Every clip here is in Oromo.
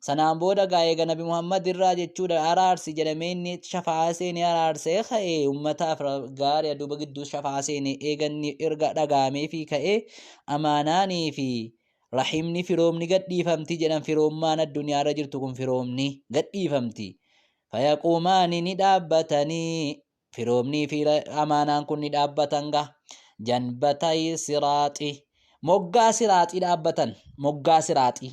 Sanaan booda gaa eega Nabi Muhammad irraa jechuudha araarsi jedhamee inni shafa'aa seenee araarsee ka'e ummataaf gaari'a duuba gidduu shafa'aa seene eega inni erga dhagaamee fi ka'e amaanaanii fi rahimni firoomni gadhiifamti jedhan firoommaan addunyaa irra jirtu kun firoomni gadhiifamti fayaquumaani ni dhaabbatanii firoomnii fi amaanaan kun ni dhaabbatan ga janbatay siraaxi moggaa siraaxii dhaabbatan moggaa siraaxii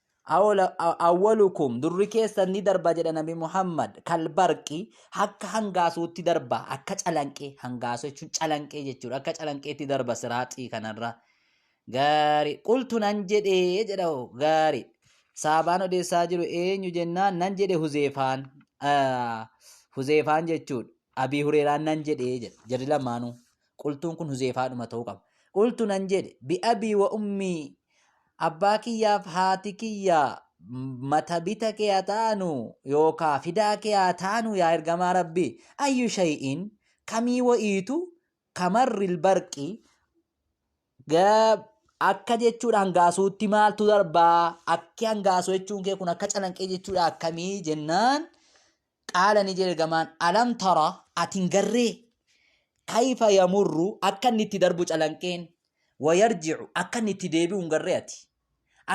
awwalukum durri keessan ni darba jedha nabi muhammad kalbarqi akka hangaasuutti darba akka calanqee hangaasu jechuun calanqee jechuudha akka calanqeetti darba siraaxii kanarra gaari qultu nan jedhee jedha gaari saabaan odeessaa jiru eenyu jennaan nan jedhe huzeefaan huzeefaan jechuudha abii hureeraan nan jedhee jedha jarri lamaanuu Qultuun kun Huzeefaadhuma ta'uu qaba. Qultu nan jedhe bi'abii wa ummii abbaa kiyyaaf haati kiyya matabita kee haa ta'anu yookaa fidaa kee haa ta'anu yaa ergamaa rabbii ayyu shay'in kamii wa'iitu kamarril barqii akka jechuudha hangaasuutti maaltu darbaa akki hangaasu jechuun kee kun akka calanqee jechuudha akkamii jennaan Qaala ni jedhe ergamaan alam tara ati hin garree kayfa yamurru akka inni itti darbu calanqeen wayarji'u akka inni itti deebi'u hin garree ati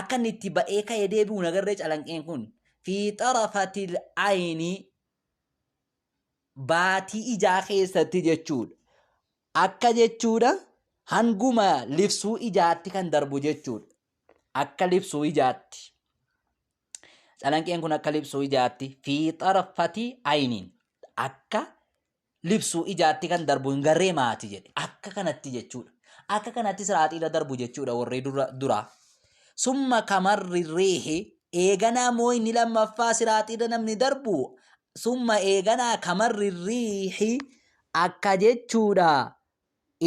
akka inni itti ba'ee ka'ee deebi'u na garree calanqeen kun fi xarafatil ayni baatii ijaa keessatti jechuudha akka jechuudha hanguma libsuu ijaatti kan darbu jechuudha akka libsuu ijaatti. Calanqeen kun akka libsuu ijaatti fi xarfati ayniin akka libsuu ijaatti kan darbu hin garree maati jedhe. Akka kanatti jechuudha. Akka kanatti siraaxiirra darbu jechuudha warri dura duraa. Summa kamarri riihi eeganaa moo inni lammaffaa siraaxiirra namni darbu summa eeganaa kamarri riihi akka jechuudha.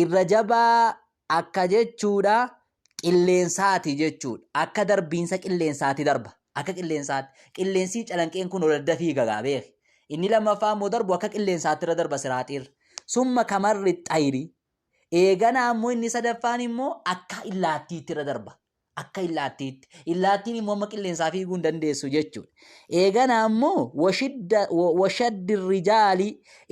Irra jabaa akka jechuudha qilleensaati jechuudha. Akka darbiinsa qilleensaati darba. Akka qilleensaatti. Qilleensii calanqeen kun ol adda fiiga gaa beeki. Inni lammaffaa immoo darbu akka qilleensaatti irra darba siraaxiirra. Summa kamarri xayiri. Eeganaa immoo inni sadaffaan immoo akka illaattiitti irra darba. Akka illaattiitti. Illaattiin immoo amma qilleensaa fiiguu hin dandeessu jechuudha. Eegana ammoo washidda- wa- washaddi rijaali.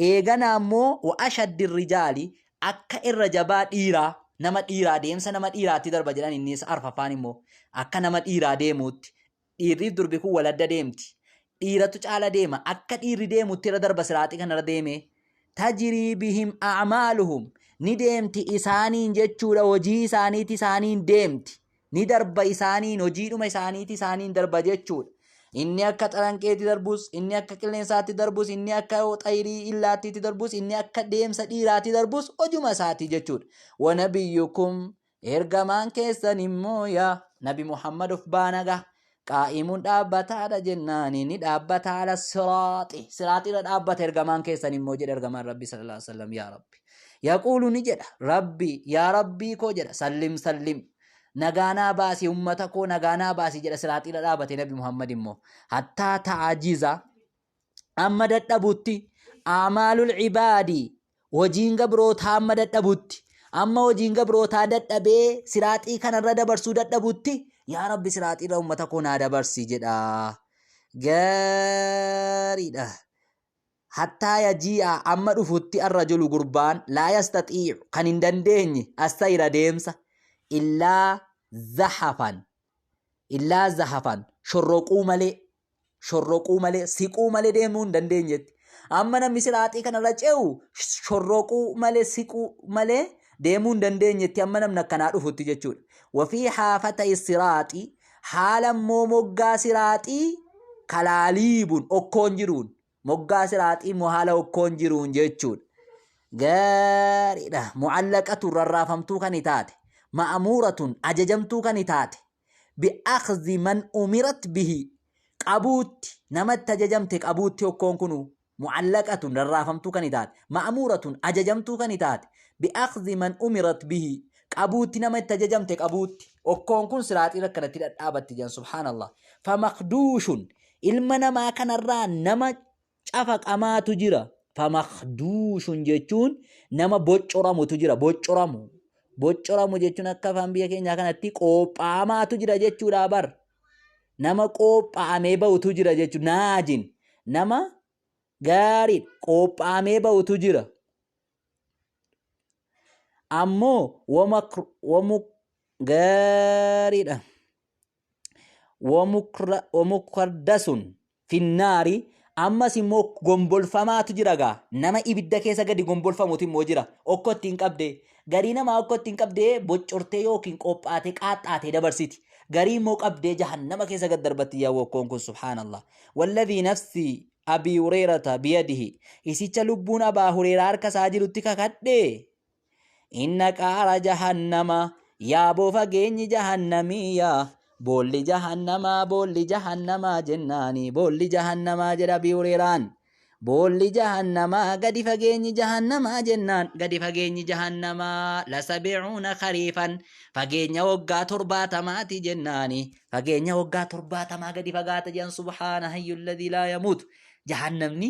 Eegana ammoo wa'ashaddi rijaali. Akka irra jabaa dhiiraa nama dhiiraa deemsa nama dhiiraatti darba jedhan innis arfaffaan immoo akka nama dhiiraa deemuutti Dhiirriif durbi kun wal adda deemti. Dhiiratu caala deema. Akka dhiirri deemutti irra darba siraaxii kanarra deemee. Tajrii bihim a'maaluhum. Ni deemti isaaniin jechuudha hojii isaaniiti isaaniin deemti. Ni darba isaaniin hojiidhuma isaaniiti isaaniin darba jechuudha. Inni akka xalanqeetti darbus, inni akka qilleensaatti darbus, inni akka xayirii illaattiitti darbus, inni akka deemsa dhiiraatti darbus hojuma isaati jechuudha. Wanabiyyukum Ergamaan keessan immoo yaa Nabi Muhammad of baanaga qaa'imuun dhaabbataadha jennaan inni dhaabbata ala siraaxi siraaxirra dhaabbata ergamaan keessan immoo jedha ergamaan Rabbi sallallahu alaihi wasallam yaa Rabbi yaquulu ni jedha Rabbi yaa Rabbii koo jedha sallim sallim nagaanaa baasi ummata koo nagaanaa baasi jedha siraaxirra dhaabate Nabi Muhammad immoo hattaa ta'ajiza amma dadhabutti aamaalul ibaadi hojiin gabrootaa amma dadhabutti amma hojiin gabrootaa dadhabee siraaxii kanarra dabarsuu dadhabutti yaa rabbi siraaxiirra ummata koo naa dabarsi jedha gaariidha hattaa yajii'a amma dhufutti arrajulu gurbaan laa yastaxiicu kan hin dandeenye assayra deemsa illaa zahafan illaa zahafan shorroquu malee shorroquu malee siquu malee deemuu hin dandeenyetti. Amma namni siraaxii kanarra ce'u shorroquu malee siquu malee deemuu hin dandeenyetti amma namni akkanaa dhufutti jechuudha. Wafii haafata siraaxii haala immoo moggaa siraaxii kalaaliibun okkoon jiruun Moggaa siraaxii immoo haala hokkoon jiruun jechuudha. Gaariidha. Mu'allaqatun rarraafamtuu kan taate. Ma'amuuratun ajajamtuu kan taate. Bi'akhzi man umirat bihi. Qabuutti nama itti ajajamte qabuutti hokkoon kunu. Mu'allaqatun rarraafamtuu kan taate. Ma'amuuratun ajajamtuu kan taate. Bi'akhzi man umirat bihi. Qabuutti nama itti ajajamte qabuutti. Hokkoon kun siraaxiirra akkanatti dhadhaabatti jedhan subhaanallah. Famaqduushun Ilma namaa kanarraa nama cafaqamaatu jira. Famakduushun jechuun nama boccoramutu jira. Boccoramu. Boccoramu jechuun akka afaan biyya keenyaa kanatti qoopha'amaatu jira jechuudha bar. Nama qoopha'amee ba'utu jira jechuudha. Naajin. Nama gaarii qoopha'amee ba'utu jira. Ammoo wamu gaariidha. wamukra- wamukardasuun finnaari ammas immoo gombolfamaatu jira gaa nama ibidda keessa gadi gombolfamutu immoo jira okkoo ittiin qabde garii namaa okkoo ittiin qabde boccortee yookiin qophaatee qaaxxaatee dabarsiti garii immoo qabdee jahannama keessa gad darbatti yaa wokkoon kun subhaanallah walladhii nafsi abii hureerata biyadihi isicha lubbuun abaa hureeraa harka isaa jirutti kakadhee Inna qaara jahannama yaa boo fageenyi jahannamii yaa boolli jahannamaa boolli jahannamaa jennaani boolli jahannamaa jedha Abii Hureeraan. Boolli jahannamaa gadi fageenyi jahannamaa jennaan gadi fageenyi jahannamaa lasabicuuna kariifan fageenya waggaa torbaatamaati jennaani fageenya waggaa torbaatamaa gadi fagaata jedhan subhaana hayyulladii laa yamuut jahannamni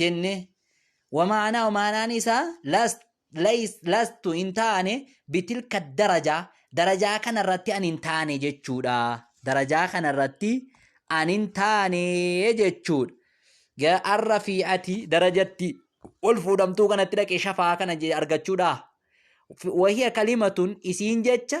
jenne wamaanaa wamaanaan isaa last lays lastu hin taane bitilka darajaa darajaa kana irratti an hin taane jechuudha darajaa kana irratti an hin taane jechuudha ga arra fi ati darajatti ol fuudhamtuu kanatti dhaqe shafaa kana je- argachuudha Fi- wahiya kalimatun isiin jecha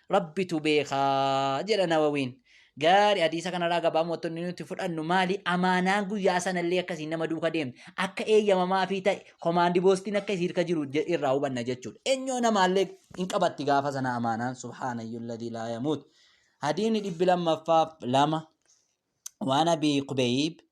Rabbitu beeka jedha Nawawiin. Gaari hadiisa kanarraa gabaamottonni nuti fudhannu maali? Amaanaan guyyaa sanallee akkasiin nama duuka deemte. Akka eeyyamamaa fi ta'e komaandi boostiin akka isii irka jiru je- irraa hubanna jechuudha. Eenyoo namaallee hin qabatti gaafa sana amaanaan subhaanayyuu ladii laa yamuut. Hadiisni dhibbi lammaffaaf lama waan abii kubeeyib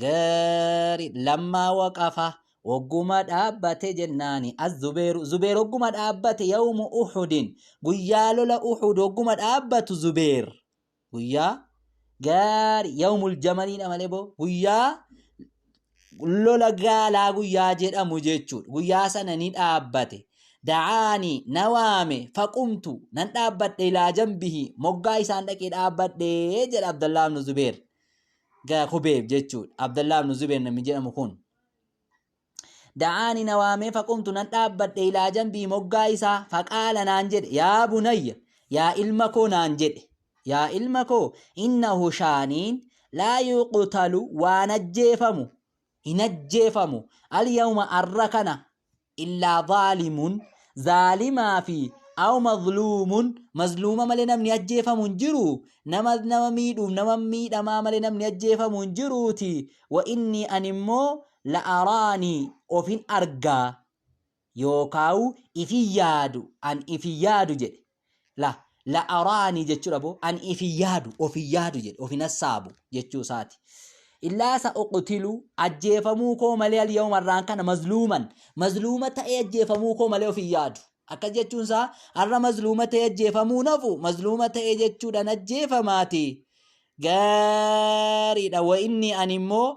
Gari lammaa waqafa wogguma dhaabbate jennaani az-zubeeru zubeer wogguma dhaabbate yawmu uhudin guyyaa lola uhud wogguma dhaabbatu zubeer guyyaa gaari yawmul jamaliidha malee boo guyyaa lola gaalaa guyyaa jedhamu jechuudha guyyaa sana ni dhaabbate da'aani na waame faqumtu nan dhaabbadhe ilaa jambihi moggaa isaan dhaqee dhaabbadhe jedha abdallaa ibnu zubeer ga kubeeb jechuudha abdallaa ibnu zubeer namni jedhamu kun da'aani na waamee faqumtu nan dhaabbadhe ilaa jambii moggaa isaa faqaala naan jedhe yaa bunayya yaa ilma koo naan jedhe yaa ilma koo innahu shaaniin laa yuqtalu waan ajjeefamu hin ajjeefamu alyawma arra kana illaa zaalimun zaalimaa fi aw mazluumun mazluuma malee namni ajjeefamu hin jiru nama nama miidhuuf nama miidhamaa malee namni ajjeefamu hin jiruuti wa inni animmoo la araanii ofin argaa yookaawu ifi yaadu an ifi yaadu jedhe la la araani jechudha bo an ifi yaadu ofi yaadu jedhe ofi nassaabu jechuu isaati illaa sa uqtilu ajjeefamuu koo malee al yawma irraan kana mazluuman mazluuma ta'ee ajjeefamuu koo malee ofi yaadu akkas jechuun isaa har'a mazluuma ta'ee ajjeefamuu nafu mazluuma ta'ee jechuudhaan ajjeefamaati gaariidha wa inni ani immoo